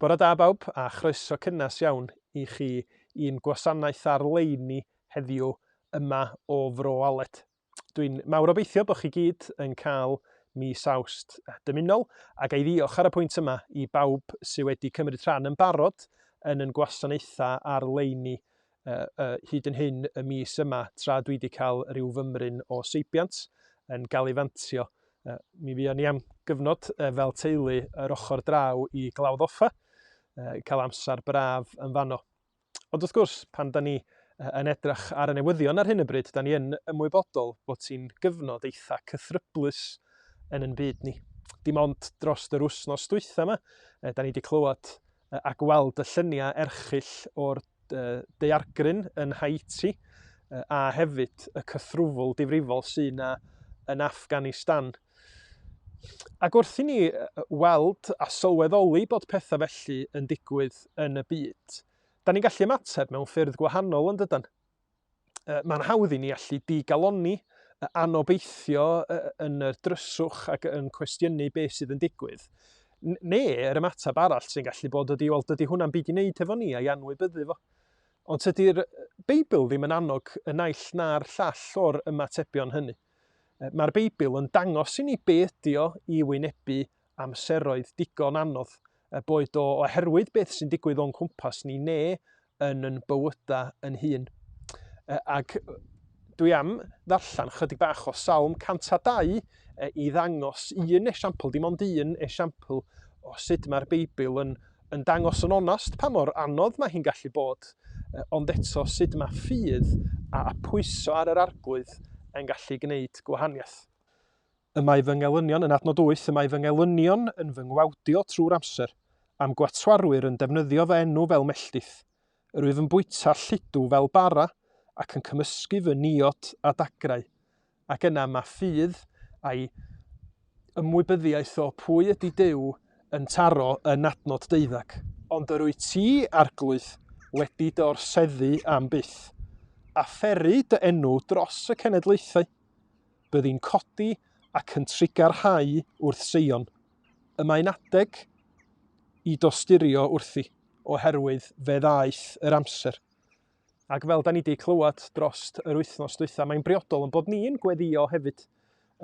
Bore da bawb a chroeso cynnes iawn i chi i'n gwasanaeth ar-leini heddiw yma o Fro Aled. Dwi'n mawr obeithio bod chi gyd yn cael mis Awst dymunol a ga i ddiolch ar y pwynt yma i bawb sydd wedi cymryd rhan yn barod yn yn gwasanaethau ar-leini hyd yn hyn y mis yma tra dwi wedi cael rhyw fymryn o seibiant yn gael ei fantio. Mi fuon ni am gyfnod fel teulu yr ochr draw i Glawdd Offa, cael amser braf yn fanno. Ond wrth gwrs, pan da ni yn edrych ar y newyddion ar hyn y bryd, da ni yn ymwybodol bod ti'n gyfnod eitha cythryblus yn yn byd ni. Dim ond dros yr wsnos dwytha yma, da ni wedi clywed a gweld y lluniau erchyll o'r daeargryn yn Haiti a hefyd y cythrwfl difrifol sy'n na yn Afghanistan. Ac wrth i ni weld a sylweddoli bod pethau felly yn digwydd yn y byd, da ni'n gallu ymateb mewn ffyrdd gwahanol yn dydan? Mae'n hawdd i ni allu digalonni, anobeithio yn y dryswch ac yn cwestiynu beth sydd yn digwydd. Neu yr ymateb arall sy'n gallu bod ydy, wel, dydy hwnna'n byd i wneud hefo ni a'i anwybyddu fo. Ond tydy'r Beibl ddim yn annog y naill na'r llall o'r ymatebion hynny. Mae'r Beibl yn dangos i ni be ydy o i wynebu amseroedd digon anodd, boed o oherwydd beth sy'n digwydd o'n cwmpas ni neu yn yn bywyda yn hun. E, ac dwi am ddarllen chydig bach o Salm 102 e, i ddangos un esiampl, dim ond un esiampl o sut mae'r Beibl yn, yn dangos yn onast pa mor anodd mae hi'n gallu bod, e, ond eto sut mae ffydd a, a pwyso ar yr arglwydd yn gallu gwneud gwahaniaeth. Y mae fy ngelynion yn adnod wyth, y mae fy ngelynion yn fy ngwawdio trwy'r amser, a'm gwatwarwyr yn defnyddio fy enw fel melltith. Yr wyf yn bwyta lludw fel bara, ac yn cymysgu fy niod â dagrau. Ac yna mae ffydd a'i ymwybyddiaeth o pwy ydy Duw yn taro yn adnod deuddag. Ond yr wyt ti, Arglwydd, wedi dy orseddu am byth, a pheru dy enw dros y cenedlaethau. byddi'n codi ac yn trigarhau wrth Seion. Y mae'n adeg i dosturio wrthi, oherwydd fe ddaeth yr amser. Ac fel da ni wedi clywed dros yr wythnos dwytha, mae'n briodol yn bod ni'n gweddio hefyd,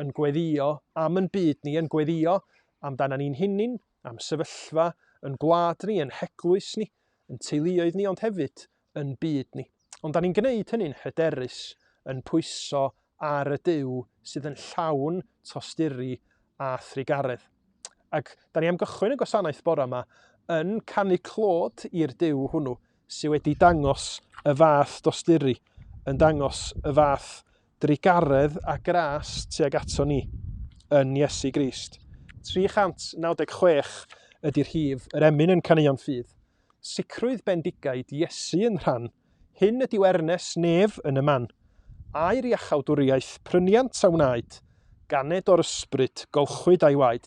yn gweddio am yn byd ni, yn gweddio amdana ni'n hunin, am sefyllfa yn gwlad ni, yn heglwys ni, yn teuluoedd ni, ond hefyd yn byd ni. Ond da ni'n gwneud hynny'n hyderus, yn pwyso ar y Duw sydd yn llawn tosturi a thrugaredd. Ac da ni am gychwyn y gwasanaeth bore yma yn canu clod i'r Duw hwnnw sydd wedi dangos y fath dosturi, yn dangos y fath drugaredd a gras tuag ato ni yn Iesu Grist. 396 ydy'r hif, yr emyn yn caneuon ffydd, Sicrwydd bendigaid Iesu yn rhan, hyn ydyw ernes nef yn y man, aer iachawdwriaeth pryniant a wnaed, ganed o'r ysbryd golchwyd a'i waed.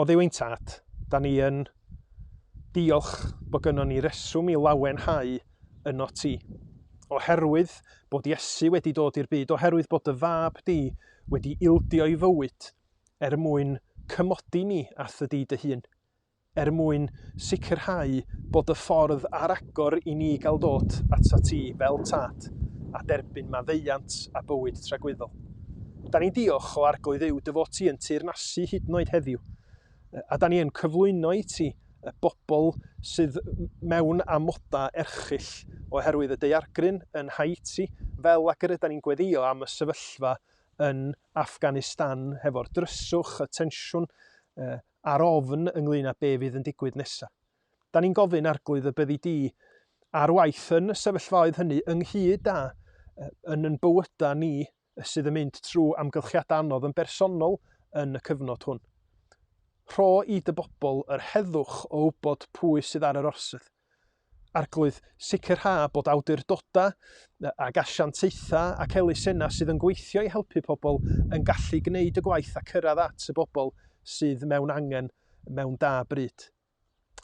Oddiw ein Tad, da ni yn diolch bod gynnon ni reswm i lawenhau yno ti. Oherwydd bod Iesu wedi dod i'r byd, oherwydd bod dy fab di wedi ildio i fywyd er mwyn cymodi ni â thy di dy hun. er mwyn sicrhau bod y ffordd ar agor i ni gael dod atat ti fel Tad a derbyn maddeuant a bywyd tragwyddol. Da ni'n diolch o Arglwydd yw dy fod ti yn teyrnasu hyd yn oed heddiw, a da ni yn cyflwyno i ti y bobl sydd mewn amodau erchyll oherwydd y daeargryn yn Haiti, fel ac yr yda ni'n gweddio am y sefyllfa yn Afghanistan hefo'r dryswch, y tensiwn, ar ofn ynglŷn â be fydd yn digwydd nesa. Da ni'n gofyn Arglwydd y byddi di ar waith yn y sefyllfaoedd hynny ynghyd â yn yn bywyda ni sydd yn mynd trwy amgylchiadau anodd yn bersonol yn y cyfnod hwn. Rho i dy bobl yr heddwch o wybod pwy sydd ar yr orsedd. Arglwydd, sicrha bod awdurdodau ag asiantaethau ac elusennau sydd yn gweithio i helpu pobl yn gallu gwneud y gwaith a cyrraedd at y bobl sydd mewn angen mewn da bryd.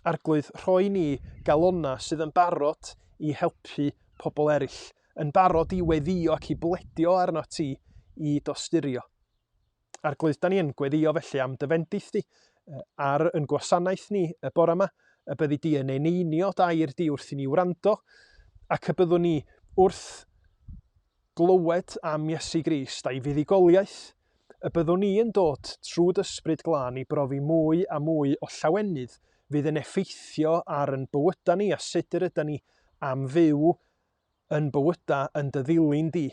Arglwydd, rhoi ni galonnau sydd yn barod i helpu pobl eraill, yn barod i weddïo ac i bledio arnot ti i dosturio. Arglwydd, da ni yn gweddio felly am dy fendith di ar yn gwasanaeth ni y bore yma, y byddi di yn eneinio dair di wrth i ni wrando, ac y byddwn ni wrth glywed am Iesu Grist a'i fuddugoliaeth, y byddwn ni yn dod trwy dysbryd glân i brofi mwy a mwy o llawenydd fydd yn effeithio ar yn bywydau ni a sut yr ydy ni am fyw yn bywyda yn dy ddilyn di,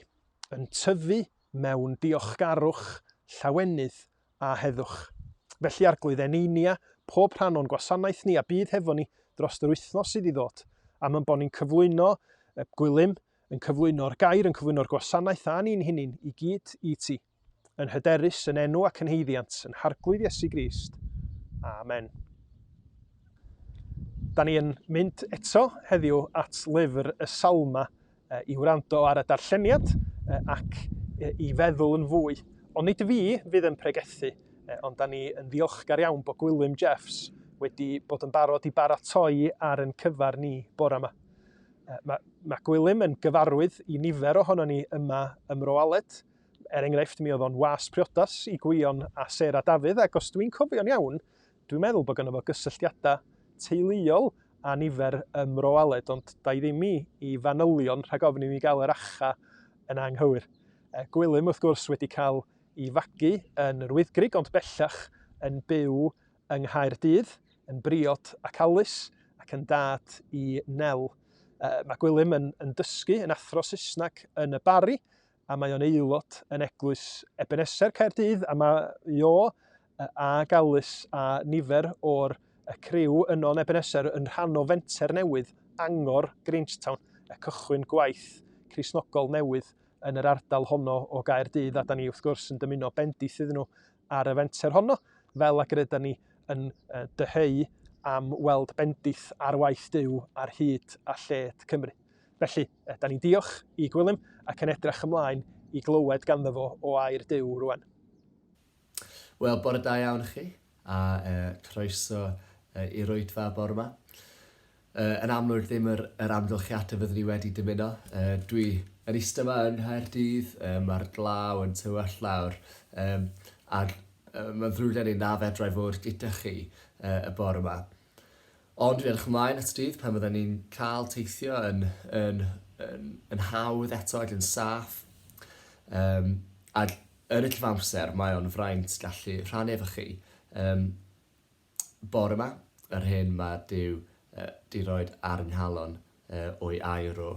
yn tyfu mewn diolchgarwch, llawenydd, a heddwch. Felly, Arglwydd, eneinia pob rhan o'n gwasanaeth ni a bydd hefo ni dros yr wythnos sydd i ddod, am yn bod ni'n cyflwyno gwilym, yn cyflwyno'r gair, yn cyflwyno'r gwasanaeth a ni'n hunin i gyd i ti. yn hyderus yn enw ac yn heiddiant yn Harglwydd Iesu Grist. Amen. Da ni yn mynd eto heddiw at lyfr y Salma i wrando ar y darlleniad ac i feddwl yn fwy. Ond nid fi fydd yn pregethu, ond da ni yn ddiolchgar iawn bod Gwilym Jeffs wedi bod yn barod i baratoi ar yn cyfar ni bore yma. Mae, mae Gwilym yn gyfarwydd i nifer ohono ni yma ym Mro Aled, Er enghraifft, mi oedd o'n was priodas i Gwion a Sarah Dafydd, ac os dwi'n cofio'n iawn, dwi'n meddwl bod gynno fo gysylltiadau teuluol a nifer ym Mro Aled, ond da i ddim i, i fanylion rhag ofn i mi gael yr acha yn anghywir. E, Gwilym, wrth gwrs, wedi cael ei fagu yn yr Wyddgrug, ond bellach yn byw yng Nghaerdydd, yn briod ac Alys, ac yn dad i Nel. E, mae Gwilym yn, yn dysgu yn athro Saesneg yn y Barri, a mae o'n aelod yn Eglwys Ebeneser Caerdydd a mae Jo a Galus a nifer o'r criw yno yn Ebeneser yn rhan o fenter newydd angor Grangetown, y cychwyn gwaith Crisnogol newydd yn yr ardal honno o Gaerdydd a da ni wrth gwrs yn dymuno bendith iddyn nhw ar y fenter honno, fel ac yr yda ni yn dyheu am weld bendith ar waith Duw ar hyd a lled Cymru. Felly, da ni'n diolch i Gwilym ac yn edrych ymlaen i glywed ganddo fo o air Duw rwan. Wel, bore da iawn chi, a croeso i'r oedfa bore ma. Yy, yn amlwg ddim yr, yr amgylchiadau fyddwn i wedi dymuno. Yy, dwi yn eistedd yma yn Nghaerdydd, yy, mae'r glaw yn tywell lawr, um, ac uh, mae'n ddrwg gen i na fedrai fod gyda chi uh, y bore yma. Ond dwi'n edrych ymlaen at y dydd pan fydden ni'n cael teithio yn, yn, yn, yn hawdd eto ac yn saff. Um, ac yn y cyfamser, mae o'n fraint gallu rhannu efo chi. Um, Bore 'ma, yr hyn mae Duw 'di roid ar y nghalon o'i air o.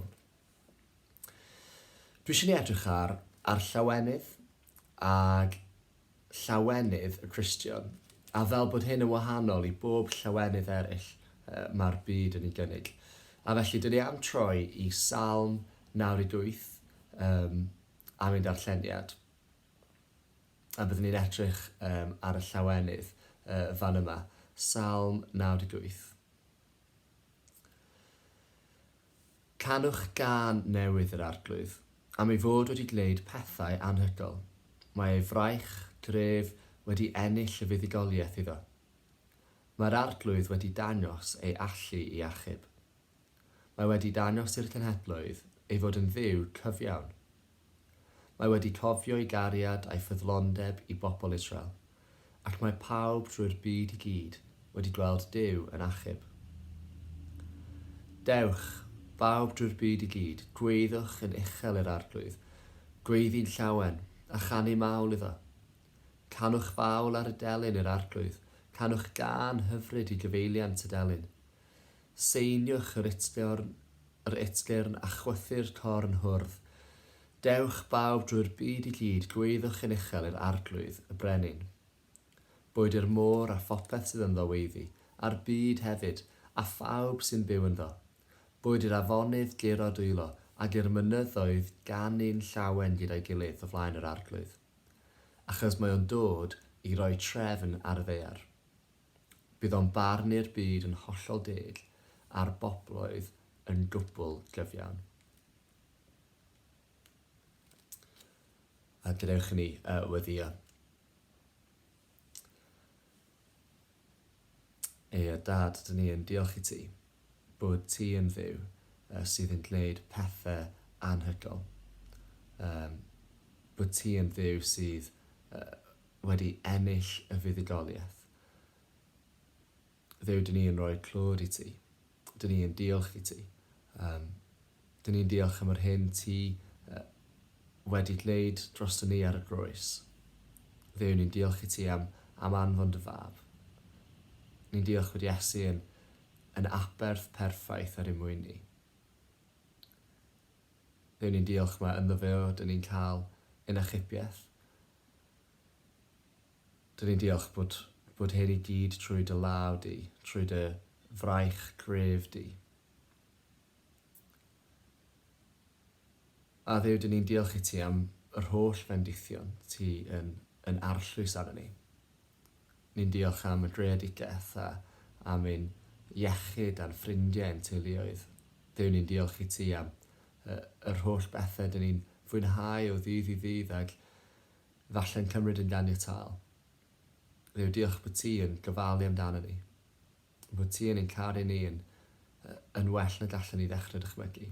Dwi eisiau ni edrych ar, ar llawenydd, ag llawenydd y Cristion, a fel bod hyn yn wahanol i bob llawenydd eraill mae'r byd yn ei gynnig. A felly, dyn ni am troi i Salm 98 um, a mynd ar lleniad. A byddwn ni'n edrych um, ar y llawenydd uh, fan yma, Salm 98. Canwch gan newydd yr arglwydd, am ei fod wedi gwneud pethau anhygol. Mae ei fraich, gref, wedi ennill y fuddugoliaeth iddo. Mae'r arglwydd wedi dangos ei allu i achub. Mae wedi dangos i'r cenhedloedd ei fod yn Dduw cyfiawn. Mae wedi cofio'i gariad a'i ffyddlondeb i bobl Israel, ac mae pawb drwy'r byd i gyd wedi gweld Duw yn achub. Dewch, bawb drwy'r byd i gyd, gweiddiwch yn uchel i'r Arglwydd, gweiddi'n llawen, a chanu mawl iddo. Canwch fawl ar y delyn i'r Arglwydd, canwch gân hyfryd i gyfeiliant y delyn. Seiniwch yr utgorn, yr utgyrn, a chwythu'r corn hwrdd. Dewch, bawb, drwy'r byd i gyd, gweiddiwch yn uchel i'r Arglwydd, y Brenin. Boed i'r môr a phopeth sydd ynddo weiddi, a'r byd hefyd, a phawb sy'n byw ynddo. Boed i'r afonydd guro dwylo, ac i'r mynyddoedd ganu'n llawen gyda'i gilydd o flaen yr Arglwydd. Achos mae o'n dod i roi trefn ar y ddaear. Bydd o'n barnu'r byd yn hollol deg a'r bobloedd yn gwbl gyfiawn. A gadewch i ni uh, weddio. Ei a dad, dyn ni yn diolch i ti bod ti yn ddiw uh, sydd yn gwneud pethau anhygol. Um, bod ti yn ddiw sydd uh, wedi ennill y fuddugoliaeth. Dduw, dyn ni yn rhoi'r clod i ti. Dyn ni yn diolch i ti. Um, dyn ni'n diolch am yr hyn ti uh, wedi gwneud dros ni ar y groes. Dduw, ni'n diolch i ti am, am anfon dy fab. Ni'n diolch fod Iesu yn, yn aberth perffaith ar ymwyn ni. Dduw, ni'n diolch mae ynddo fe o, dyn ni'n cael yn achubiaeth. Dw i'n diolch bod, bod hyn i gyd trwy dy law di, trwy dy fraich gref di. A Dduw, dyn ni'n diolch i ti am yr holl fendithion ti yn, yn arllwys arno ni. Ni'n diolch am y greadigaeth a am ein iechyd a'n ffrindiau a'n teuluoedd. Duw ni'n diolch i ti am y, yr holl bethe dyn ni'n fwynhau o ddydd i ddydd ag falle'n cymryd yn ganiataol. Dduw diolch bod ti yn gofalu amdano ni. Bod ti yn ein caru ni yn, yn well na gallen ni ddechrau dychmygu.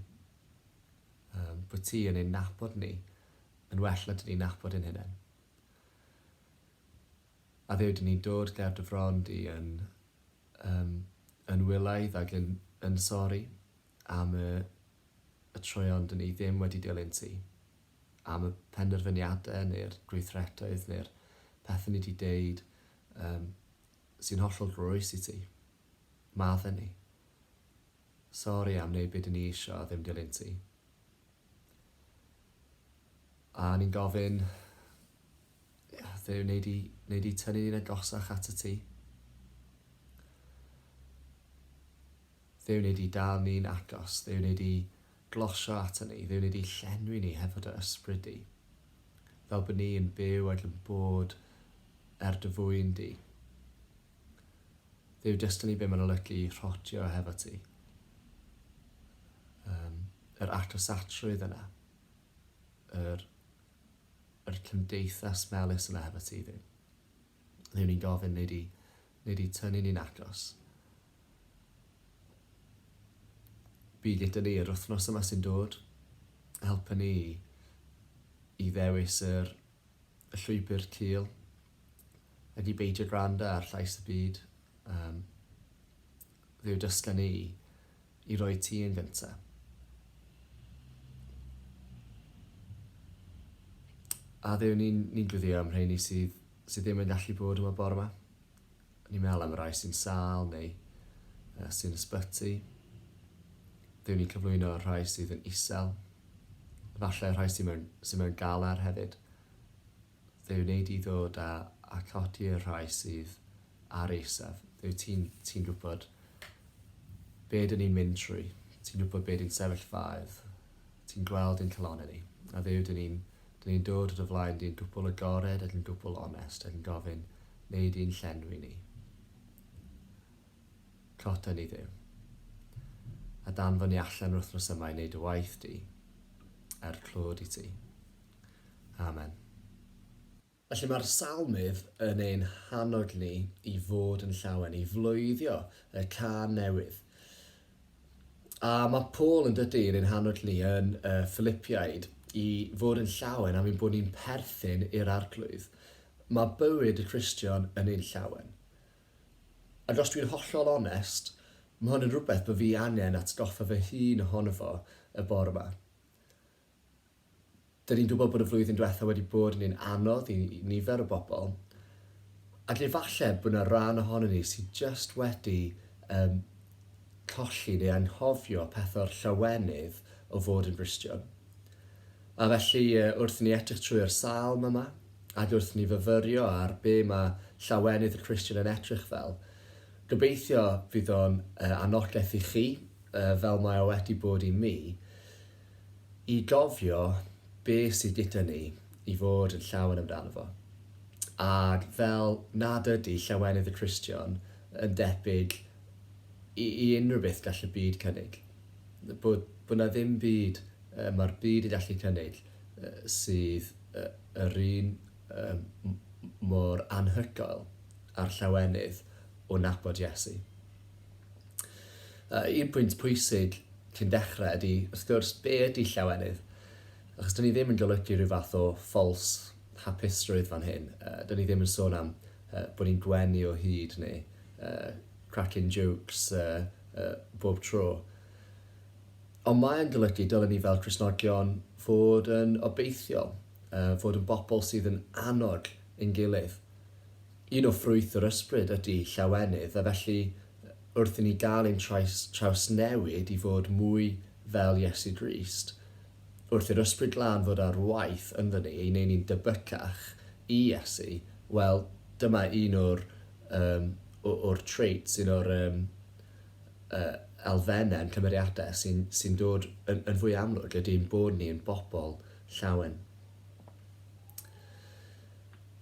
Bod ti yn ein nabod ni yn well na dyn ni'n nabod ein hunain. A Dduw, dyn ni'n dod ger dy fron di yn um, yn wylaidd ac yn, yn sori am y, y troeon dyn ni ddim wedi dilyn ti, am y penderfyniadau neu'r gweithretoedd neu'r pethau ni wedi deud um, sy'n hollol groes i ti. Madden ni. Sori am wneud beth dyn ni eisiau a ddim dilyn ti. A o'n i'n gofyn, Dduw, wnei di, wnei di tynnu ni'n agosach at y ti? Dduw, wnei di dal ni'n agos? Dduw, wnei di glosio ato ni? Dduw, wnei di llenwi ni hefo dy ysbryd di? Fel bod ni'n byw ac yn bod er dy fwyn di. Dduw destiny be mae'n olygu i rhotio hefo ti. Um, yr atosacrwydd yna. Yr, yr cymdeithas melus yna hefo ti, Dduw. Dduw ni'n gofyn, neu di, neu di tynnu ni'n agos. Bi gyda ni yr wythnos yma sy'n dod. Helpa ni i ddewis yr, y llwybr cil ydy beidio gwrando ar llais y byd, um, fe yw dysga ni i roi ti yn gynta. A ddew ni'n ni gwyddio am rheini sydd, sydd ddim yn gallu bod yma bore yma. Ni'n meddwl am y rai sy'n sal neu uh, sy'n ysbyty. Ddew ni'n cyflwyno rhai sydd yn isel. Falle rhai sydd mewn, sydd mewn galar hefyd. Fe wnei di ddod a a codi y rhai sydd ar eisaf. Dwyt ti'n ti'n gwybod be dyn ni'n mynd trwy, ti'n gwybod be di'n sefyllfaoedd, ti'n gweld ein calonnau ni. A Dduw, dyn ni'n dyn ni'n dod o dy flaen di'n gwbl agored ac yn gwbl onest ac yn gofyn, wnei di'n llenwi ni. Cota ni Dduw. A danfon ni allan yr wythnos yma i wneud dy waith di, er clod i ti. Amen. Felly mae'r Salmydd yn ein hannog ni i fod yn llawen, i floeddio y can newydd. A mae Paul yn dydy yn ein hannog ni yn y Philippiaid i fod yn llawen am ein bod ni'n perthyn i'r arglwydd. Mae bywyd y Cristion yn ein llawen. Ac os dwi'n hollol onest, mae hwn yn rhywbeth bod fi angen atgoffa fy hun ohono fo y bore yma. Dyn ni'n gwybod bod y flwyddyn diwetha wedi bod yn un anodd i nifer o bobl, a lle falle bod yna rhan ohonyn ni sydd jyst wedi um, colli neu anghofio pethau'r llawenydd o fod yn Gristion. A felly, wrth ni edrych trwy'r salm yma, ac wrth ni fyfyrio ar be mae llawenydd y Christian yn edrych fel, gobeithio fydd o'n uh, anogaeth i chi, uh, fel mae o wedi bod i mi, i gofio be sydd gyda ni i fod yn llawen amdano fo. Ac fel nad ydy llawenydd y Cristion yn debyg i, i unrhyw beth gall y byd cynnig, bod, bod na ddim byd uh, mae'r byd yn gallu cynnig uh, sydd uh, yr un uh, mor anhygoel a'r llawenydd o nabod Iesu. Uh, un pwynt pwysig cyn dechrau ydy, wrth gwrs, be ydy llawenydd? Achos dyn ni ddim yn golygu rhyw fath o ffals hapusrwydd fan hyn. Uh, dyn ni ddim yn sôn am uh, bod ni'n gwenu o hyd neu uh, cracking jokes uh, uh, bob tro. Ond mae'n golygu dylen ni fel Cresnogion fod yn obeithiol, uh, fod yn bobl sydd yn annog ein gilydd. Un o ffrwyth yr ysbryd ydy llawenydd a felly wrth i ni gael ein trais trawsnewid i fod mwy fel Iesu Grist, wrth i'r Ysbryd Glân fod ar waith ynddo ni i neu ni'n debycach i Iesu, wel, dyma un o'r um, o'r traits, un o'r um, uh, elfennau yn cymeriadau sy'n sy dod yn, yn fwy amlwg ydy ein bod ni yn bobl llawen.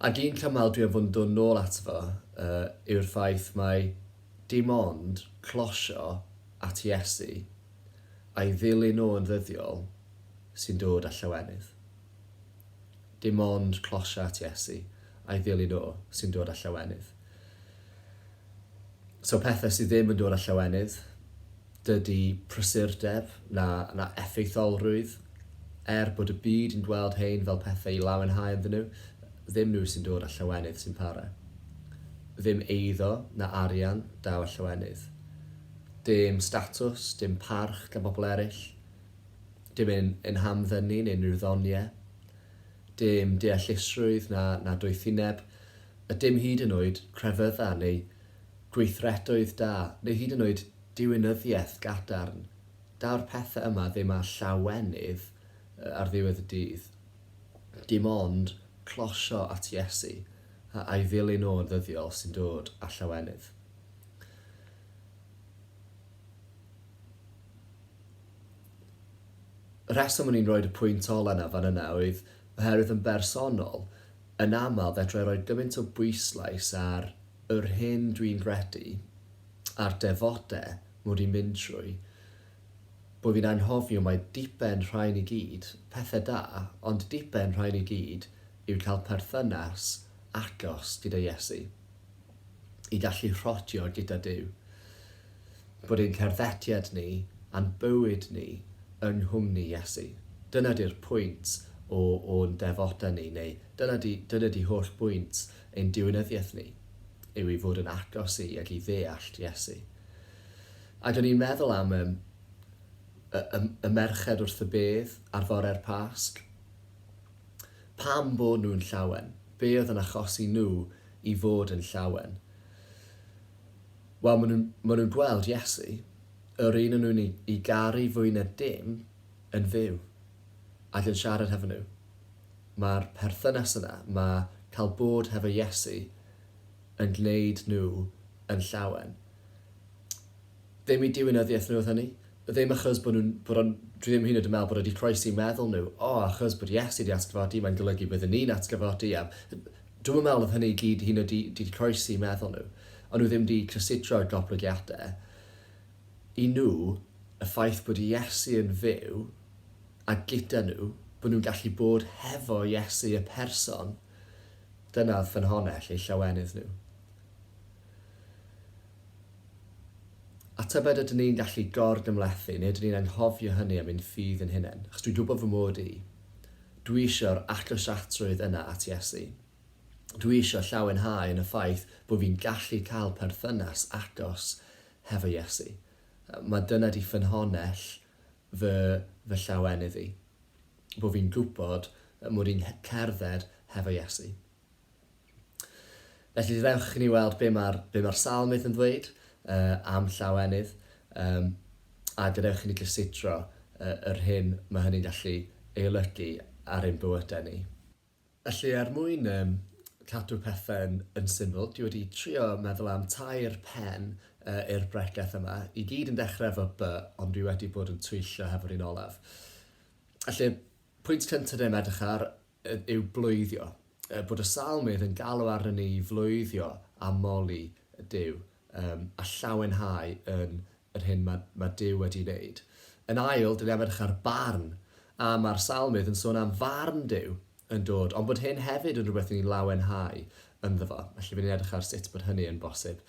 Ac un cymal dwi am fod yn dod nôl ato fo yw'r ffaith mai dim ond closio at Iesu a'i ddilyn o yn ddyddiol sy'n dod â llawenydd. Dim ond closio at Iesu a'i ddilyn o sy'n dod â llawenydd. So pethau sydd ddim yn dod â llawenydd, dydy prysurdeb na, na effeitholrwydd, er bod y byd yn gweld hein fel pethau i lawenhau ynddyn nhw, ddim nhw sy'n dod â llawenydd sy'n para. Ddim eiddo na arian daw â llawenydd. Dim statws, dim parch gan bobl eraill, dim ein, ein hamddynu neu unrhyw ddoniau, dim deallusrwydd na, na doethineb, a dim hyd yn oed crefyddau neu gweithredoedd da, neu hyd yn oed diwinyddiaeth gadarn. Daw'r pethau yma ddim â llawenydd ar ddiwedd y dydd. Dim ond closio at Iesu a a'i ddilyn o'n ddyddiol sy'n dod â llawenydd. Y rheswm o'n i'n rhoid y pwynt ola 'na fan yna oedd oherwydd yn bersonol, Yn aml fedrai roi gymaint o bwyslais ar yr hyn dwi'n gredu, a'r defode mod i'n mynd trwy, bo fi'n anghofio mai diben rhain i gyd, pethe da, ond diben rhain i gyd yw cael perthynas agos gyda Iesu. i gallu rhodio gyda Duw, bod ein cerddediad ni a'n bywyd ni yng nghwmni Iesu. Dyna 'di'r pwynt o o'n defoda ni, neu dyna 'di, dyna 'di holl bwynt ein diwinyddiaeth ni, yw i fod yn agos i ac i ddeallt Iesu. Ac o'n i'n meddwl am y, y, y, y merched wrth y bedd ar fore'r Pasg, Pam bod nhw'n llawen? Be oedd yn achosi nhw i fod yn llawen? Wel, maen nhw'n, maen nhw'n gweld Iesu, yr un o'n nhw'n ei, ei garu fwy na dim, yn fyw, ac yn siarad hefo nhw. Mae'r perthynas yna, mae cael bod hefo Iesu yn gwneud nhw yn llawen. Ddim i diwinyddiaeth nhw oedd hynny. Ddim achos bod nhw'n, bod o'n, dwi ddim hyd yn oed yn meddwl bod e 'di croesi meddwl nhw, o, achos bod Iesu 'di atgyfodi, mae'n golygu bydden ni'n atgyfodi, a dwi'm yn meddwl oedd hynny i gyd hyd yn oed 'di 'di croesi meddwl nhw. O'n nhw ddim 'di cysidro'r goblygiadau. I nhw, y ffaith bod Iesu yn fyw a gyda nhw, bod nhw'n gallu bod hefo Iesu y person, dyna oedd ffynhonnell eu llawenydd nhw. A tybed ydyn ni'n gallu gor-gymhlethu, neu ydyn ni'n anghofio hynny am ein ffydd ein hunain? Achos dwi'n gwybod fy mod i. Dwi eisiau'r agosiadrwydd yna at Iesu. Dwi eisiau llawenhau yn y ffaith bod fi'n gallu cael perthynas agos hefo Iesu. Mae dyna 'di ffynhonnell fy fy llawenydd i, bod fi'n gwybod mod i'n cerdded hefo Iesu. Felly, dewch i ni weld be mae'r be mae'r salmydd yn ddweud uh, am llawenydd, um, a gadewch i ni gysidro uh, yr hyn mae hynny'n gallu ei olygu ar ein bywydau ni. Felly, er mwyn um, cadw pethau'n yn syml, dwi wedi trio meddwl am tair pen uh, i'r bregeth yma. I gyd yn dechrau efo by, ond dwi wedi bod yn twyllio hefo'r un olaf. Felly, pwynt cyntaf ni'n edrych ar yw bloeddio, bod y Salmydd yn galw arnon ni i floeddio a moli Duw, yym, a llawenhau yn yr hyn ma', ma' Duw wedi wneud. Yn ail, dan ni'n edrych ar barn, a ma'r Salmydd yn sôn am farn Duw yn dod, ond bod hyn hefyd yn rhywbeth ni'n lawenhau ynddo fo. Felly, by' ni'n edrych ar sut bod hynny yn bosib.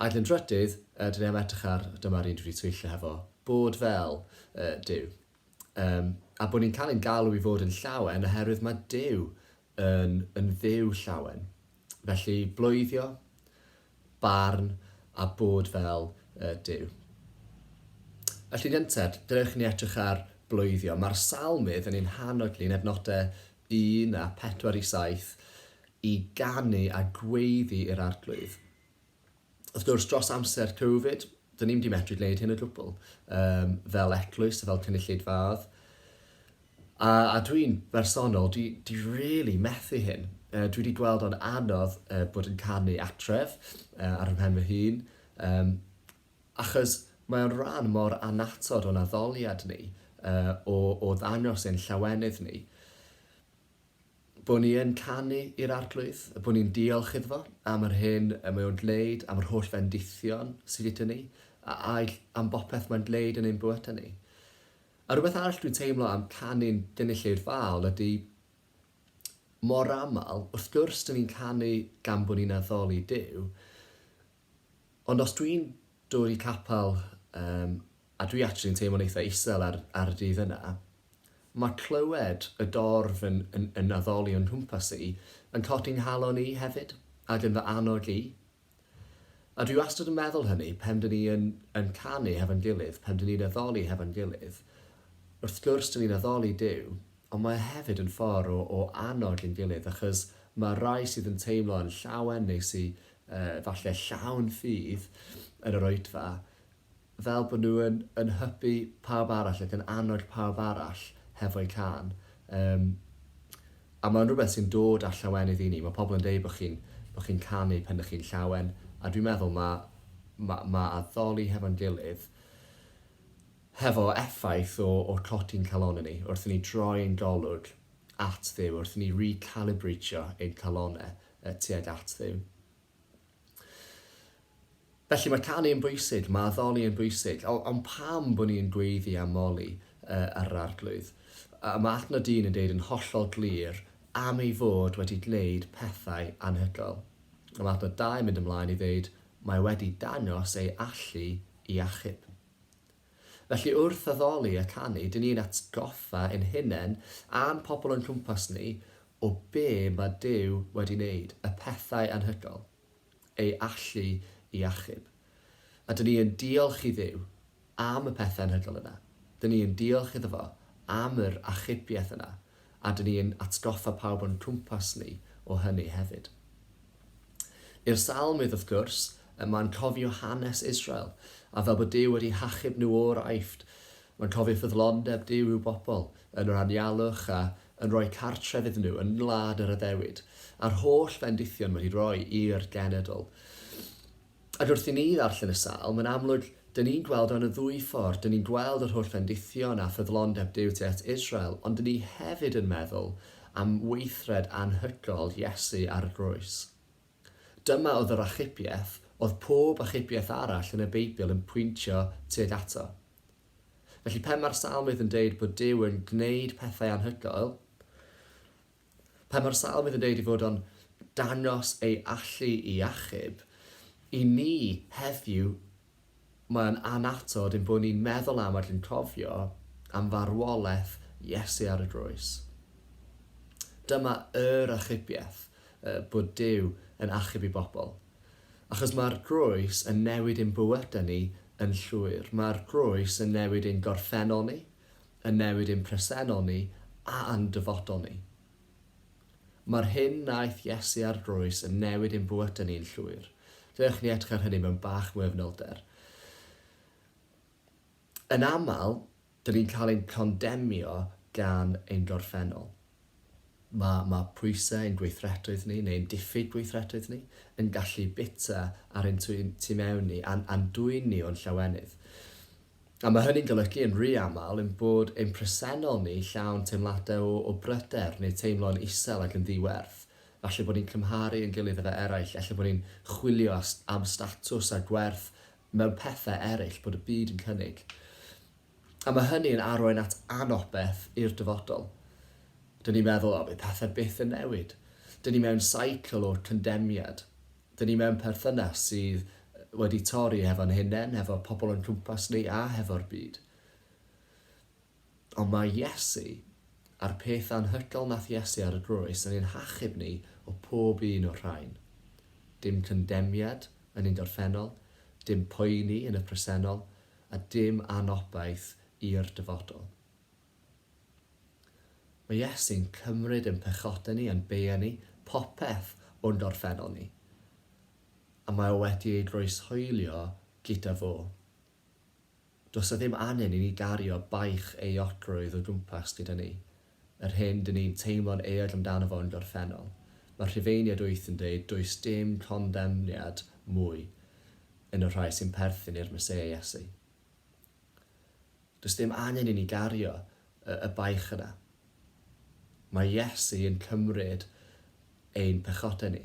Ag yn drydydd, yy, dan ni am edrych ar, dyma'r un dwi wedi twyllo hefo, bod fel, yy, Duw. Yym, a bod ni'n cael ein galw i fod yn llawen oherwydd mae Duw yn, yn Dduw llawen. Felly, bloeddio, barn, a bod fel uh, Duw. Felly, gynted, dewch ni edrych ar bloeddio. Mae'r salmydd yn ein hannog ni yn efnodau 1 a 4 i 7 i ganu a gweiddi i'r arglwydd. wrth gwrs, dros amser Covid, dyn ni'm di medru gwneud hyn o gwbl, um, fel eglwys a fel cynulleidfaodd. A, a dwi'n bersonol, dwi, dwi really methu hyn. Uh, dwi wedi gweld o'n anodd uh, bod yn canu atref uh, ar ymhen fy hun, um, achos mae o'n rhan mor anatod o'n addoliad ni, uh, o, o ddangos ein llawenydd ni. Bo ni yn canu i'r Arglwydd, bo ni'n diolch iddo fo am yr hyn y mae o'n gwneud, am yr holl fendithion sy gyda ni, a aill am bopeth mae'n gwneud yn ein bywydau ni. A rhywbeth arall dwi'n teimlo am canu'n Gynulleidfaol Faol ydy, mor aml, wrth gwrs, 'dyn ni'n canu gan bo ni'n addoli Duw, Ond os dwi'n dwli capel yym a dwi actually yn teimlo'n eitha isel ar ar y dydd yna, ma' clywed y dorf yn yn yn addoli o'n nghwmpas i yn codi 'nghalon i hefyd, ac yn fy annog i. A dwi wastad yn meddwl hynny pan dyn ni yn yn canu hefo'n gilydd, pan dyn ni'n addoli hefo'n gilydd, wrth gwrs dyn ni'n addoli Duw, Ond mae o hefyd yn ffordd o o annog ein gilydd achos mae rhai sydd yn teimlo yn llawen neu sy yy falle llawn ffydd yn yr oedfa fel bod nhw yn yn hybu pawb arall ac yn annog pawb arall hefo'u cân yym a mae'n rhywbeth sy'n dod â llawenydd i ni, mae pobl yn deud bod chi'n bod chi'n canu pan ydych chi'n llawen a dwi'n meddwl mae ma' ma' addoli hefo'n gilydd Hefo effaith o o'r cloti'n calonnau ni, wrth i ni droi ein golwg at Dduw, wrth i ni re-calibreitio ein calonnau tuag at Dduw. Felly mae canu yn bwysig, mae addoli yn bwysig, ond pam bod ni'n gweiddi am Molly uh, ar yr arglwydd? A mae adnod dyn yn deud yn hollol glir am ei fod wedi gwneud pethau anhygoel. Mae adnod dau yn mynd ymlaen i ddeud mae wedi dangos ei allu i achub. Felly wrth addoli a canu, dyn ni'n atgoffa ein hunain a'n pobl o'n cwmpas ni o be mae Duw wedi wneud, y pethau anhygoel, ei allu i achub. A dyn ni yn diolch i Dduw am y pethau anhygoel yna. Dyn ni yn diolch iddo fo am yr achubiaeth yna. a dŷn ni'n atgoffa pawb o'n cwmpas ni o hynny hefyd. I'r Salmydd, wrth gwrs, y mae'n cofio hanes Israel, a fel bod Duw wedi hachub nhw o'r Aifft, mae'n cofio ffyddlondeb Duw i'w bobl, yn yr anialwch a yn rhoi cartref iddyn nhw yn ngwlad yr addewid, a'r holl fendithion wedi rhoi i'r genedl. Ac wrth i ni ddarllen y Salm, yn amlwg, dŷn ni'n gweld o yn y ddwy ffordd, dŷn ni'n gweld yr holl fendithion a ffyddlondeb Duw tu at Israel, ond dŷn ni hefyd yn meddwl am weithred anhygol Iesu ar y groes. Dyma oedd yr achubiaeth oedd pob achubiaeth arall yn y Beibl yn pwyntio tuag ato. Felly, pe mae'r Salmydd yn deud bod Duw yn gwneud pethau anhygoel, Pan mae'r Salmydd yn dweud ei fod o'n dangos ei allu i achub, i ni heddiw mae o'n annatod ein bod ni'n meddwl am ac yn cofio am farwolaeth Iesu ar y groes. Dyma yr achubiaeth, bod Duw yn achub ei bobl. Achos mae'r groes yn newid ein bywydau ni yn llwyr. Mae'r groes yn newid ein gorffennol ni, yn newid ein presennol ni a'n dyfodol ni. Mae'r hyn wnaeth Iesu ar groes yn newid ein bywydau ni'n llwyr. Dewch ni edrych ar hynny mewn bach mwy o fanylder. Yn aml, dyn ni'n cael ein condemnio gan ein gorffennol. Mae mae pwysau ein gweithrediaeth ni, neu ein diffyg gweithrediaeth ni, yn gallu bita ar ein tu tu mewn ni a'n a'n dwyn ni o'n llawenydd. A mae hynny'n golygu, yn rhy aml, ein bod ein presennol ni llawn teimladau o o bryder neu teimlo'n isel ac yn ddi-werth. Falle bod ni'n cymharu ein gilydd efo eraill, ella bod ni'n chwilio a am statws a gwerth mewn pethau eraill bod y byd yn cynnig. A mae hynny yn arwain at anobeth i'r dyfodol. Dyn ni'n meddwl, o, fydd pethau byth yn newid. Dyn ni mewn seicl o'r condemniad. Dyn ni mewn perthynas sydd wedi torri hefo'n hunain, hefo'r pobl o'n cwmpas ni a hefo'r byd. Ond mae Iesu, a'r peth anhygoel nath Iesu ar y groes, yn ein hachub ni o pob un o'r rhain. Dim condemniad yn ein gorffennol, dim poeni yn y presennol, a dim anobaith i'r dyfodol. Mae Iesu'n cymryd ein pechodau ni, ein beiau ni, popeth o'n gorffennol ni, a mae o wedi ei groeshoelio gyda fo. Does 'na ddim angen i ni gario baich ei otrwydd o gwmpas gyda ni. Yr hyn dyn ni'n teimlo'n eog amdano fo yn gorffennol, mae'r Rhufeiniaid wyth yn dweud does dim condemniad mwy yn y rhai sy'n perthyn i'r Meseia Iesu. Does dim angen i ni gario y, y baich yna. Mae Iesu yn cymryd ein pechodau ni.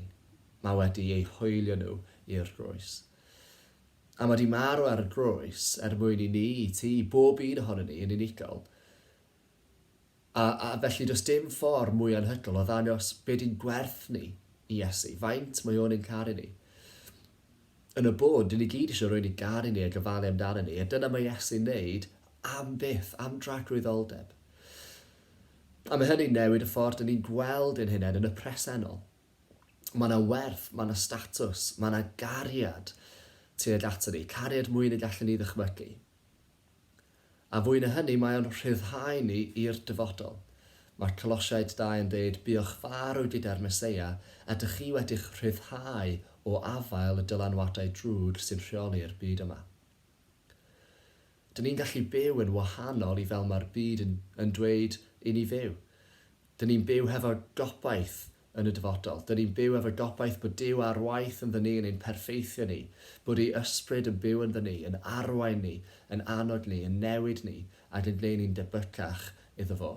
Mae wedi eu hoelio nhw i'r groes. A mae wedi marw ar y groes er mwyn i ni, i ti, bob un ohono ni yn unigol, A, a felly does dim ffordd mwy anhygoel o ddangos beth y'n gwerth ni i Iesu, faint mae O'n ein caru ni. Yn y bôn, dyn ni gyd eisiau rhywun i garu ni a gofalu amdano ni, a dyna mae Iesu'n neud am byth, am dragrwyddoldeb. A mae hynny'n newid y ffordd dyn ni'n gweld ein hunain yn y presennol. Mae yna werth, mae yna statws, mae yna gariad tuag ato ni, cariad mwy na gallwn ni ddychmygu. A fwy na hynny, mae o'n rhyddhau ni i'r dyfodol. Mae Colosiaid dau yn deud, Buoch farw gyda'r Meseia, a dych chi wedi'ch rhyddhau o afael y dylanwadau drwg sy'n rheoli'r byd yma. Dyn ni'n gallu byw yn wahanol i fel mae'r byd yn yn dweud i ni fyw. Dŷn ni'n byw hefo gobaith yn y dyfodol. Dŷn ni'n byw efo gobaith bod Duw ar waith ynddo ni, yn ein perffeithio ni, bod ei ysbryd yn byw ynddo ni, yn arwain ni, yn annog ni, yn newid ni, ac yn gwneud ni'n debycach iddo fo.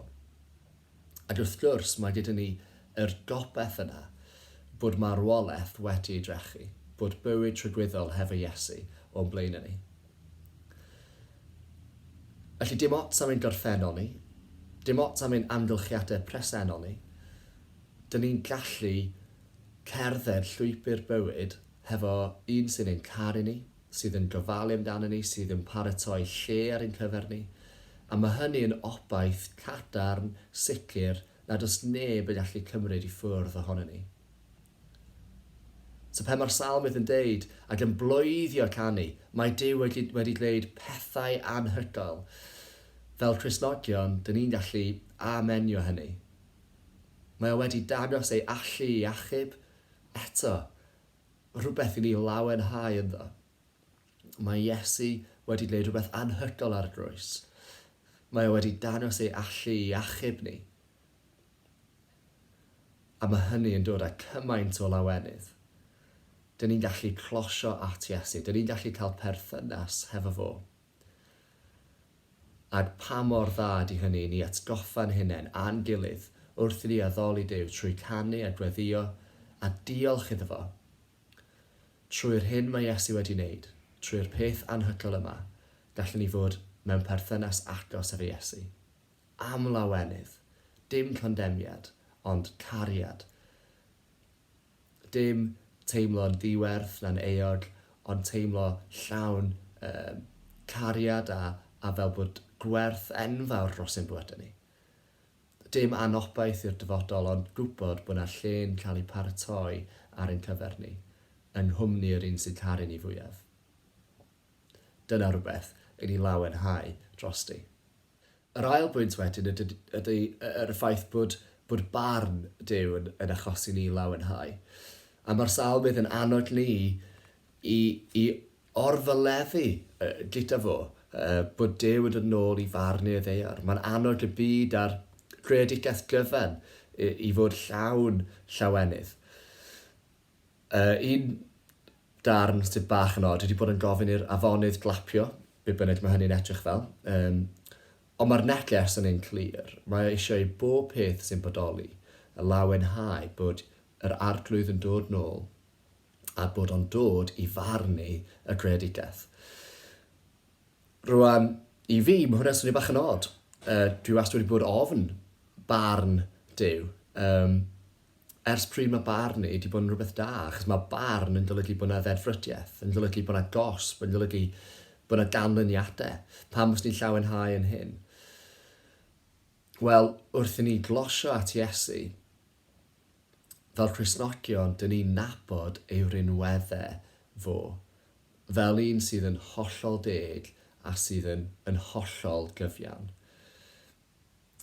Ac wrth gwrs, mae gyda ni yr gobaith yna bod marwolaeth wedi ei drechu, bod bywyd tragwyddol hefo Iesu o'n blaenau ni. Felly, dim ots am ein gorffennol ni, dim ots am ein amgylchiadau presennol ni, dyn ni'n gallu cerdded llwybr bywyd hefo un sy'n ein caru ni, sydd yn gofalu amdano ni, sydd yn paratoi lle ar ein cyfer ni, a mae hynny yn obaith cadarn, sicr, nad oes neb yn gallu cymryd i ffwrdd ohono ni. So pe mae'r salmydd yn deud, ac yn bloeddio canu, mae Duw wedi, wedi gwneud pethau anhygoel, fel Cristnogion, dyn ni'n gallu amenio hynny. Mae o wedi dangos ei allu i achub, eto, rhywbeth i ni lawenhau ynddo. Mae Iesu wedi gwneud rhywbeth anhygoel ar y groes. Mae o wedi dangos ei allu i achub ni. A mae hynny yn dod â cymaint o lawenydd. Dyn ni'n gallu closio at Iesu. Dyn ni'n gallu cael perthynas hefo fo. Ac pa mor dda ydy hynny i ni atgoffa'n hunain a'n gilydd wrth i ni addoli Duw trwy canu a gweddïo a diolch iddo fo trwy'r hyn mae Iesu wedi wneud, trwy'r peth anhygoel yma, gallwn ni fod mewn perthynas agos efo Iesu. Am lawenydd, dim condemniad, ond cariad. Dim teimlo'n ddiwerth na'n euog, ond teimlo llawn um, cariad a, a fel bod gwerth enfawr dros ein bywydau ni. Dim anobaith i'r dyfodol, ond gwybod bod yna lle'n cael ei paratoi ar ein cyfer ni, yng nghwmni yr un sy'n caru ni fwyaf. Dyna rhywbeth i ni lawenhau drosti. Yr ail bwynt wedyn yd- yd- ydy y- yr ffaith bod, bod barn Duw yn, yn achosi ni lawenhau. A mae'r salmydd yn annog ni i, i orfyleddu uh, gyda fo uh, bod Duw yn dod yn ôl i farnu y ddeiar. Mae'n annog y byd a'r greadigaeth gyfan i, i fod llawn llawenydd. Yy un darn sydd bach yn od ydi bod yn gofyn i'r afonydd glapio, be bynnag ma' hynny'n edrych fel. Yym ond ma'r neges yn un clir, mae o eisiau i bob peth sy'n bodoli y lawenhau bod yr Arglwydd yn dod nôl a bod o'n dod i farnu y greadigaeth. Rwan, i fi, ma' hwnna'n swnio bach yn od. Yy dwi wastad wedi bod ofn barn Duw. Yym Ers pryd mae barnu 'di bod yn rhywbeth da? Achos mae barn yn golygu bod 'na ddeddfrydiaeth, yn golygu bod 'na gosb, yn golygu bod 'na ganlyniadau. Pam fyswn i'n llawenhau yn hyn? Wel, wrth i ni glosio at Iesu, fel Cristnogion, dyn ni'n nabod ei rinweddau fo, fel un sydd yn hollol deg a sydd yn, yn hollol gyfiawn.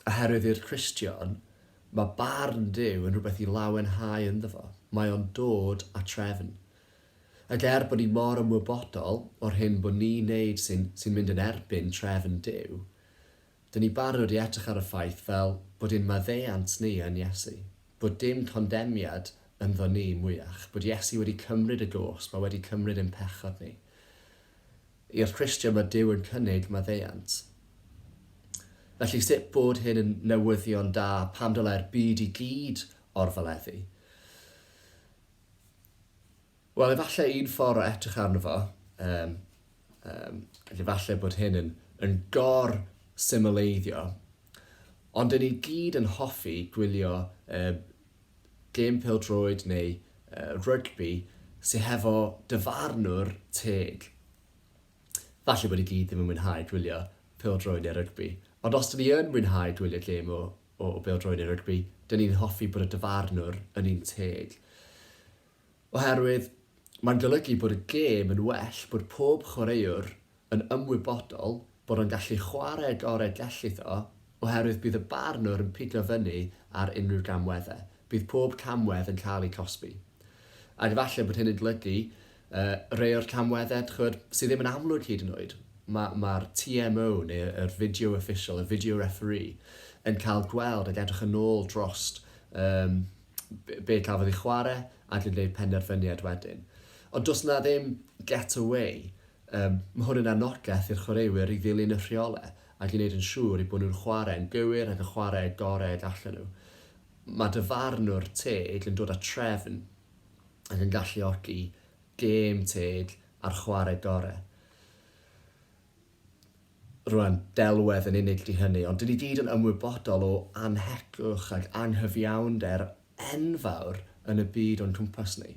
Oherwydd i'r Cristion, mae barn Duw yn rhywbeth i lawenhau ynddo fo, mae o'n dod â trefn. Ac er bod ni mor ymwybodol o'r hyn bod ni'n neud sy'n sy'n mynd yn erbyn trefn Duw, dyn ni barod i edrych ar y ffaith fel bod ein maddeuant ni yn Iesu, bod dim condemniad ynddo ni mwyach, bod Iesu wedi cymryd y gosb a wedi cymryd ein pechod ni. I'r Cristion mae Duw yn cynnig maddeuant. Felly sut bod hyn yn newyddion da pan dylai'r byd i gyd orfoleddu? Wel, efallai un ffordd o edrych arno fo, um, um, efallai bod hyn yn, yn gor symleiddio, ond dyn ni gyd yn hoffi gwylio um, gêm pêl-droed neu rygbi sy hefo dyfarnwr teg. Falle bod i gyd ddim yn mwynhau gwylio pêl-droed neu rygbi, ond os 'dyn ni yn mwynhau gwylio gêm o o bêl-droed neu rygbi, 'dyn ni'n hoffi bod y dyfarnwr yn un teg. Oherwydd mae'n golygu bod y gêm yn well, bod pob chwaraewr yn ymwybodol bod o'n gallu chwarae y gorau gellith o, oherwydd bydd y barnwr yn pigo fyny ar unrhyw gamweddau. Bydd pob camwedd yn cael eu cosbi. Ac efallai bod hyn yn golygu rhai o'r camweddau, dych chibod, sydd ddim yn amlwg hyd yn oed. Mae, mae'r TMO, neu yr video official, y video referee, yn cael gweld ac edrych yn ôl drost, yym, be cafodd ei chwarae ac yn gwneud penderfyniad wedyn. Ond does 'na ddim get away. Um, mae hwn yn anogaeth i'r chwaraewyr i ddilyn y rheolau ac i wneud yn siŵr i bod nhw'n chwarae'n gywir ac yn chwarae y gorau y gallen nhw. Mae dyfarnwr teg yn dod â trefn ac yn galluogi gêm teg a'r chwarae gorau. Roedd delwedd yn unig 'di hynny, ond 'dyn ni gyd yn ymwybodol o annhegwch ac anghyfiawnder enfawr yn y byd o'n cwmpas ni.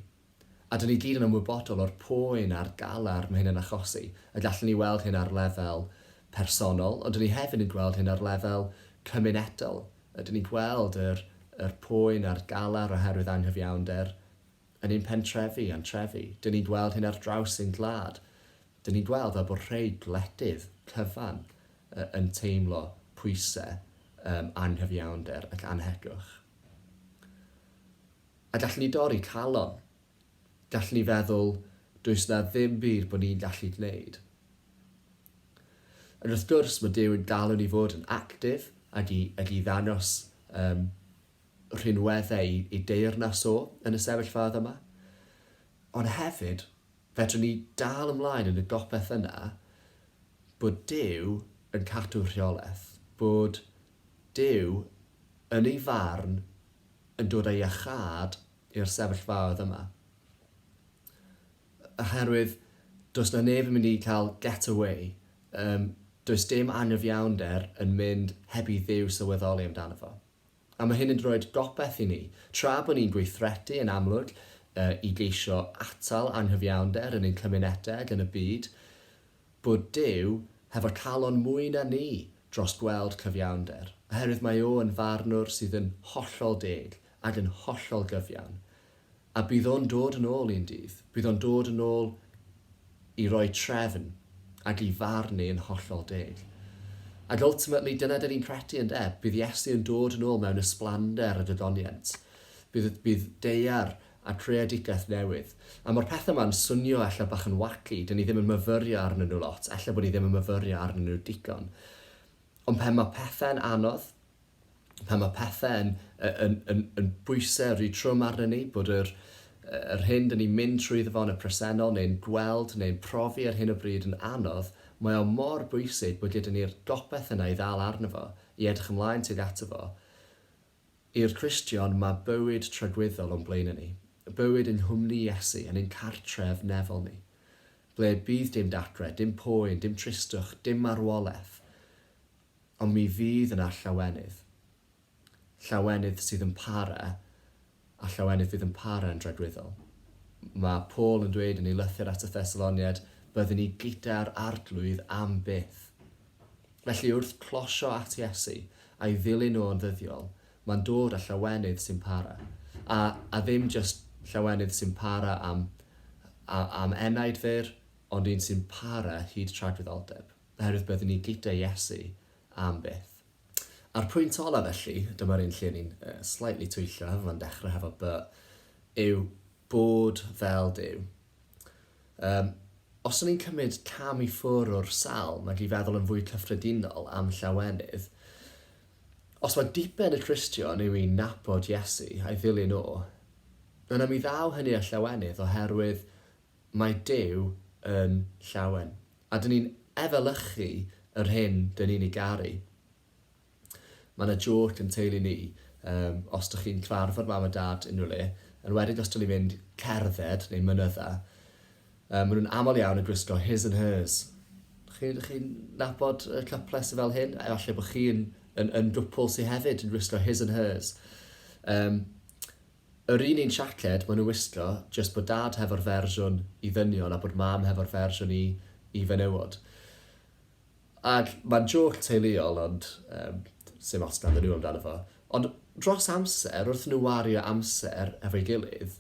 A 'dyn ni gyd yn ymwybodol o'r poen a'r galar mae hyn yn achosi, y gallwn ni weld hyn ar lefel personol, ond 'dyn ni hefyd yn gweld hyn ar lefel cymunedol, ydyn ni'n gweld yr yr poen a'r galar oherwydd anghyfiawnder yn ein pentrefi a'n trefi, 'dyn ni'n gweld hyn ar draws ein gwlad. Dyn ni'n gweld fel bod rhei gwledydd cyfan yn teimlo pwysau yym anghyfiawnder ac annhegwch. A gallwn ni dorri calon. Gallwn ni feddwl, does 'na ddim byd bod ni'n gallu gwneud. Ond wrth gwrs, mae Duw yn galw ni fod yn actif ac i, ac i ddangos um, rhinweddau i, i deyrnas o yn y sefyllfaoedd yma. Ond hefyd, Fedrwn ni dal ymlaen yn y gobaith yna bod Duw yn cadw rheolaeth, bod Duw yn ei farn yn dod â iachâd i'r sefyllfaoedd yma. Oherwydd does 'na neb yn mynd i cael get away, yym does dim anghyfiawnder yn mynd heb i Dduw sylweddoli amdano fo. A mae hyn yn rhoi gobaith i ni. Tra bod ni'n gweithredu yn amlwg i geisio atal anghyfiawnder yn ein cymunedau ac yn y byd, bod Duw hefo calon mwy na ni dros gweld cyfiawnder, oherwydd mae O yn Farnwr sydd yn hollol deg ac yn hollol gyfiawn. A bydd o'n dod yn ôl un dydd. Bydd o'n dod yn ôl i roi trefn ac i farn ni yn hollol deg. Ac ultimately, dyna dyn ni'n credu, ynde? Bydd Iesu yn dod yn ôl mewn ysblander y gwyddoniaint. Bydd, bydd deiar a creadigaeth newydd. A ma'r pethe 'ma'n swnio ella bach yn wacky, dyn ni ddim yn myfyrio arnyn nhw lot, ella bod ni ddim yn myfyrio arnyn nhw digon. Ond pan ma' pethe'n anodd, pan mae pethe yn yn yn yn bwyse ry trwm arnyn ni, bod yr yr hyn 'dyn ni'n mynd trwyddo fo yn y presennol neu'n gweld neu'n profi ar hyn o bryd yn anodd, mae o mor bwysig bod gyda ni'r gopeth yna i ddal arno fo, i edrych ymlaen tuag ato fo. I'r Cristion, mae bywyd tragwyddol o'n blaenau ni, bywyd yng nghwmni Iesu, yn ein cartref nefol ni, ble bydd dim datre, dim poen, dim tristwch, dim marwolaeth, Ond mi fydd yna llawenydd. Llawenydd sydd yn para, a llawenydd fydd yn para yn dragwyddol. Mae Paul yn dweud yn ei lythyr at y Thessaloniaid, Byddwn ni gyda'r Arglwydd am byth. Felly wrth closio at Iesu a'i ddilyn o yn ddyddiol, mae'n dod â llawenydd sy'n para. A, a ddim jyst llawenydd sy'n para am, a, am enaid fyr, ond un sy'n para hyd tragwyddoldeb. Oherwydd byddwn ni gyda Iesu am byth. A'r pwynt olaf felly, dyma'r un lle ni'n slightly twyllio hefo fo'n dechrau hefo by, yw bod fel Duw. Um, os o'n i'n cymryd cam i ffwr o'r salm ac i feddwl yn fwy cyffredinol am llawenydd, os mae diben y Cristion yw i nabod Iesu a'i ddilyn o, yna mi ddaw hynny â llawenydd oherwydd Mae Duw yn llawen, a dyn ni'n efelychu yr hyn dyn ni'n ei garu. Mae yna jôc yn teulu ni, yym, os dych chi'n cyfarfod mam a dad unrhyw le, enwedig os dyn ni'n mynd cerdded neu mynydda, yy, maen nhw'n aml iawn yn gwisgo his and hers. Chi, dych chi'n nabod y cyplau sydd fel hyn? Efallai bod chi'n yn, yn gwpl sydd hefyd yn gwisgo his and hers. Yym, Yr un un siaced ma nhw wisgo jyst bod dad hefo'r fersiwn i ddynion a bod mam hefo'r fersiwn i i fenywod. Ag mae'n jôc teuluol ond yym sim ots ganddyn nhw amdano fo. Ond dros amser wrth i nhw wario amser hefo'i gilydd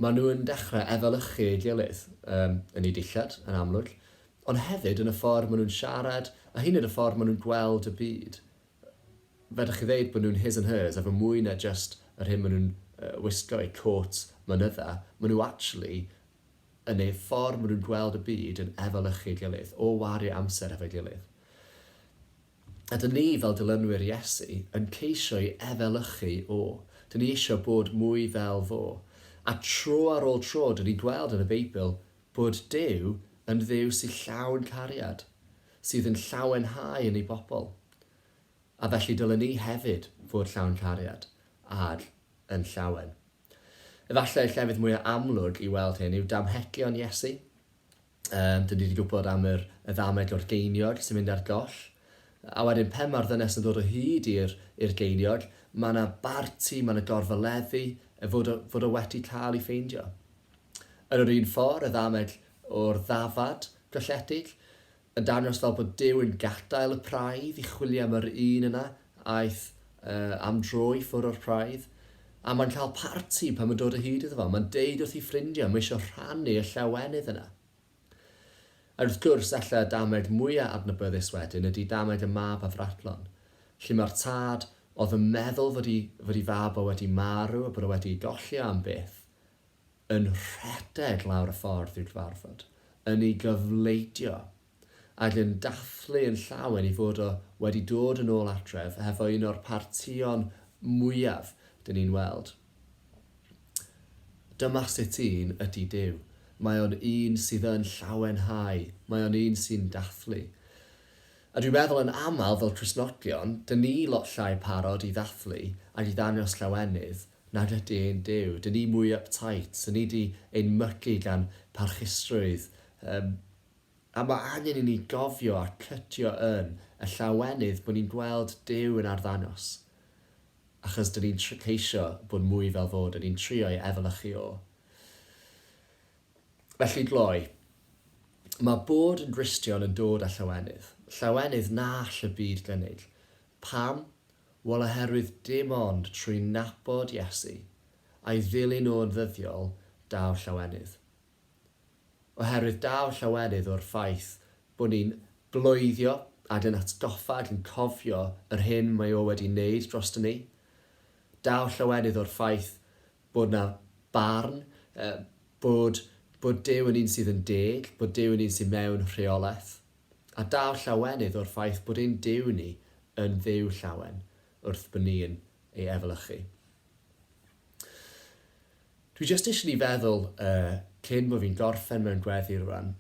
ma nhw yn dechrau efelychu ei gilydd yym yn eu dillad yn amlwg ond hefyd yn y ffordd ma nhw'n siarad a hyd yn oed y ffordd ma nhw'n gweld y byd. fedrwch chi ddeud bod nhw'n his and hers efo mwy na jyst yr hyn maen nhw'n wisgo, eu côt, mynydda, maen nhw actually yn eu ffordd maen nhw'n gweld y byd yn efelychu ei gilydd, o wario amser hefo'i gilydd. A dyn ni fel dilynwyr Iesu yn ceisio i efelychu o, dyn ni eisiau bod mwy fel fo. A tro ar ôl tro dyn ni'n gweld yn y Beibl Bod Duw yn Dduw sydd llawn cariad, sydd yn llawenhau yn ei bobl. A felly dylen ni hefyd fod llawn cariad, ad, yn llawen. Efallai y llefydd mwyaf amlwg i weld hyn yw damhegion Iesu. Um, dyn ni wedi gwybod am yr, y ddameg o'r geiniog sy'n mynd ar goll. A wedyn pen mae'r ddynes yn dod o hyd i'r geiniog, mae yna barti, mae yna gorfoleddu, fod o, fod o wedi cael ei ffeindio. Yn yr un ffordd, y ddamell o'r ddafad golledig, yn dangos fel bod Duw yn gadael y praidd i chwilio am yr un yna aeth am dro i ffwrdd o'r praidd, a mae'n cael parti pan mae'n dod o hyd iddo fo, mae'n deud wrth ei ffrindiau, mae eisiau rhannu y llawenydd yna. A wrth gwrs, ella y damell mwyaf adnabyddus wedyn ydy damell y mab a fradlon, lle mae'r tad oedd yn meddwl fod ei fab o wedi marw a bod o wedi ei golli am byth, yn rhedeg lawr y ffordd i'w gyfarfod, yn ei gofleidio, ac yn dathlu yn llawen ei fod o wedi dod yn ôl adref hefo un o'r partïon mwyaf dyn ni'n weld. Dyma sut un ydy Duw. Mae o'n un sydd yn llawenhau. Mae o'n un sy'n dathlu. A dwi'n meddwl yn aml fel Cristnogion, dyn ni lot llai parod i ddathlu ac i ddangos llawenydd nad ydy ein Duw. Dyn ni mwy uptight, dyn ni 'di ein mygu gan parchustrwydd. Yym, a mae angen i ni gofio a cydio yn y llawenydd bod ni'n gweld Duw yn arddangos, achos dyn ni'n tr- ceisio bod mwy fel fo, dyn ni'n trio ei efelychu o. Felly, gloi, mae bod yn Gristion yn dod â llawenydd, llawenydd na all y byd gynnig. Pam? Wel, oherwydd dim ond trwy nabod Iesu a'i ddilyn nhw yn ddyddiol daw llawenydd. Oherwydd daw llawenydd o'r ffaith bod ni'n bloeddio ac yn atgoffa ac yn cofio yr hyn mae o wedi wneud droston ni. Daw llawenydd o'r ffaith bod na barn, bod, bod Duw yn un sydd yn deg, bod Duw yn un sydd mewn rheolaeth. A daw llawenydd o'r ffaith bod ein Duw ni yn Dduw llawen wrth bo ni'n ei efelychu. Dwi jyst eisiau ni feddwl, uh, cyn bod fi'n gorffen mewn gweddi rwan,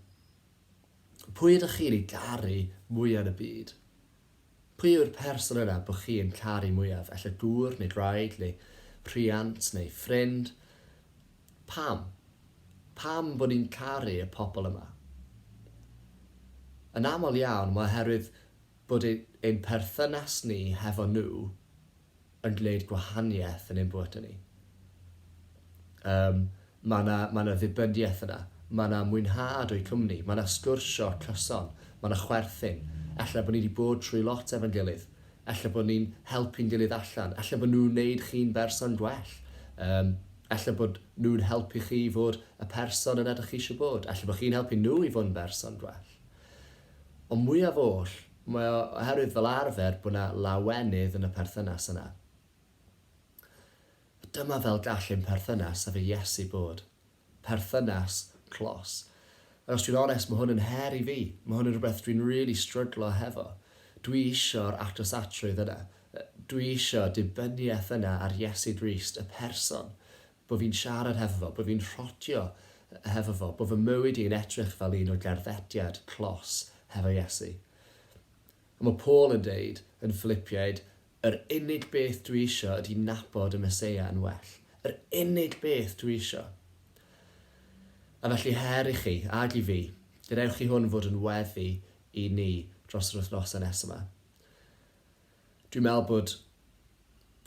pwy ydych chi'n ei garu mwya yn y byd? Pwy yw'r person yna bo chi yn caru mwyaf, ella gŵr neu wraig neu rhiant neu ffrind? Pam? Pam bod ni'n caru y pobl yma? Yn aml iawn mae oherwydd bod ein perthynas ni hefo nhw yn gwneud gwahaniaeth yn ein bywydau ni. Yym, mae 'na, mae 'na ddibyniaeth yna. Mae 'na mwynhad o'u cwmni. Mae 'na sgwrsio cyson. Mae 'na chwerthin. Ella bod ni 'di bod trwy lot efo'n gilydd. Ella bod ni'n helpu'n gilydd allan. Ella bod nhw'n wneud chi'n berson gwell. Yym, ella bod nhw'n helpu chi i fod y person yna dych chi eisiau bod. Ella bod chi'n helpu nhw i fod yn berson gwell. Ond mwyaf oll, Mae o oherwydd fel arfer bod 'na lawenydd yn y perthynas yna. A dyma fel gall ein perthynas efo Iesu bod. Perthynas clos. Ac os dwi'n onest, mae hwn yn her i fi. Mae hwn yn rhywbeth dwi'n rili stryglo hefo. Dwi isio'r atosacrwydd yna. Dwi isio dibyniaeth yna ar Iesu Grist, y person. Bo fi'n siarad hefo fo, bo fi'n rhodio hefo fo, bo fy mywyd i yn edrych fel un o gerddediad clos hefo Iesu. Ond mae Paul yn deud yn Ffilipiaid, Yr unig beth dwi isio ydi nabod y Meseia yn well. Yr unig beth dwi isio. A felly her i chi, ag i fi, gadewch i hwn fod yn weddi i ni dros yr wythnosau nesaf 'ma. Dwi'n meddwl bod,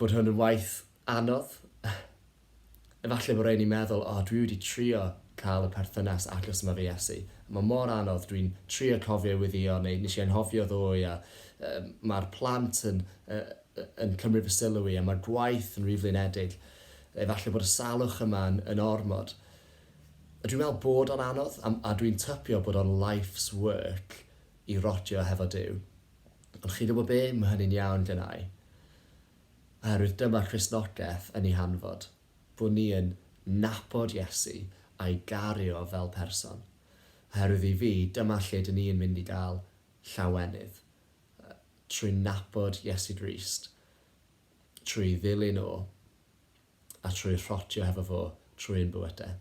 bod hwn yn waith anodd. Efallai bod rhai ni'n meddwl, o, dwi wedi trio cael y perthynas agos yma efo Iesu. Mae mor anodd, dwi'n trio cofio ei weddïo, neu nes i anghofio ddoe, a um, mae'r plant yn, uh, yn cymryd fy sylw i, a mae'r gwaith yn rhy flinedig. Efallai bod y salwch yma yn, yn ormod. A dwi'n meddwl bod o'n anodd, a, a dwi'n typio bod o'n life's work i rodio hefo Dyw. Ond chi'n gwybod be, mae hynny'n iawn gennai, oherwydd dyma Christnogaeth yn ei hanfod, bod ni yn nabod Iesu a'i gario fel person. Oherwydd i fi, dyma lle dyn ni'n mynd i gael llawenydd, trwy nabod Iesu Grist, trwy ddilyn o, a trwy rhotio hefo fo trwy ein bywydau.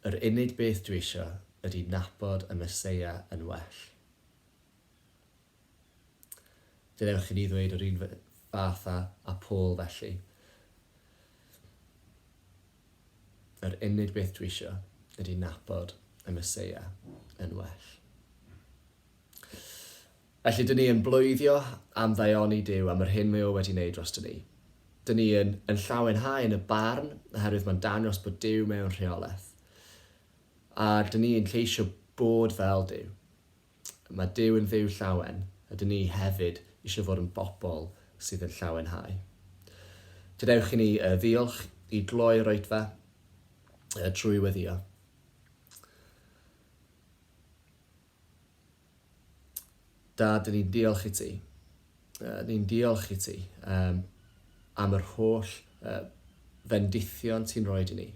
Yr unig beth dwi isio ydi nabod y Meseia yn well. Dw ewch i ni ddweud yr un fath â, â Paul felly. Yr unig beth dwi isio ydi nabod y Meseia yn well. Felly, dŷn ni yn bloeddio am ddaioni Duw am yr hyn mae O wedi wneud droston ni. Dŷn ni yn yn llawenhau yn y barn, oherwydd mae'n dangos bod Duw mewn rheolaeth. A dŷn ni yn ceisio bod fel Duw. Mae Duw yn Dduw llawen, a dŷn ni hefyd eisiau fod yn bobl sydd yn llawenhau. Gadewch i ni yy ddiolch i gloi yr oedfa yy trwy weddio. Dad, ni'n diolch i ti. Ni'n diolch i ti am yr holl fendithion ti'n rhoid i ni.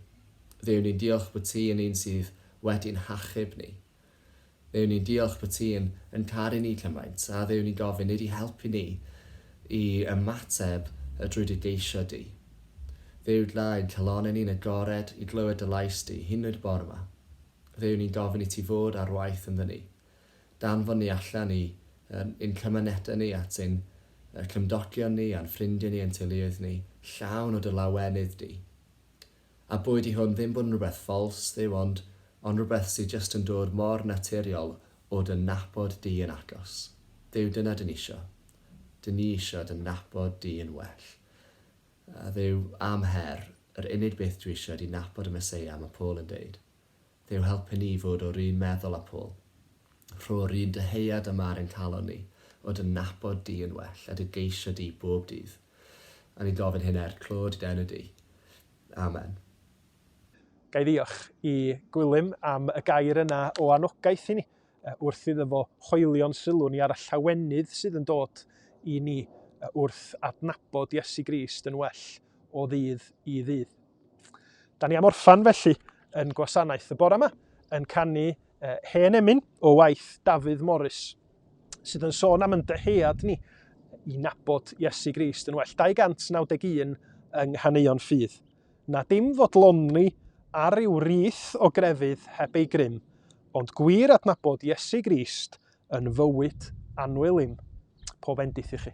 Dduw, ni'n diolch bod ti yn un sydd wedi'n hachub ni. Dduw, ni'n diolch bod ti yn, yn caru ni cymaint. A Dduw, ni'n gofyn i di helpu ni i ymateb drwy dy geisio di. Dduw, dla ein calonau ni'n agored i glywed dy lais di, hyn oed y bore yma. Fe wn i'n gofyn i ti fod ar waith ynddyn ni. Danfon ni allan i um, ein cymunedau ni, at ein uh, cymdogion ni, a'n ffrindiau ni, ein teuluoedd ni, llawn o dy lawenydd di. A bwyd i hwn ddim bod yn rhywbeth ffals, ddew, ond, ond rhywbeth sydd just yn dod mor naturiol o dy nabod di yn agos. Ddew, dyna dyn ni isio. Dyn ni isio dy nabod di yn well. Dduw a'm her, yr unig beth dwi isio ydi nabod y Meseia, mae Paul yn deud. Dduw helpu ni i fod o'r un meddwl â Paul. Rho'r un dyheuad a ma'r ennghalon ni, o dy nabod di yn well, a dy geisio di bob dydd. A ni'n gofyn hyn er clod dy enw di. Amen. Ga i ddiolch i Gwilym am y gair yna o anogaeth i ni? wrth iddo fo hoelio'n sylw ni ar y llawenydd sydd yn dod i ni wrth adnabod Iesu Grist yn well o ddydd i ddydd. Da ni am orffan felly yn gwasanaeth y bore yma yn canu uh, hen emyn o waith Dafydd Morris sydd yn sôn am yn dyhead ni i nabod Iesu Grist yn well. 291 yng Nghaneuon Ffydd. Na dim fodloni ar ryw rith o grefydd heb ei grym, ond gwir adnabod Iesu Grist yn fywyd anwelyn. Pob bendith i chi.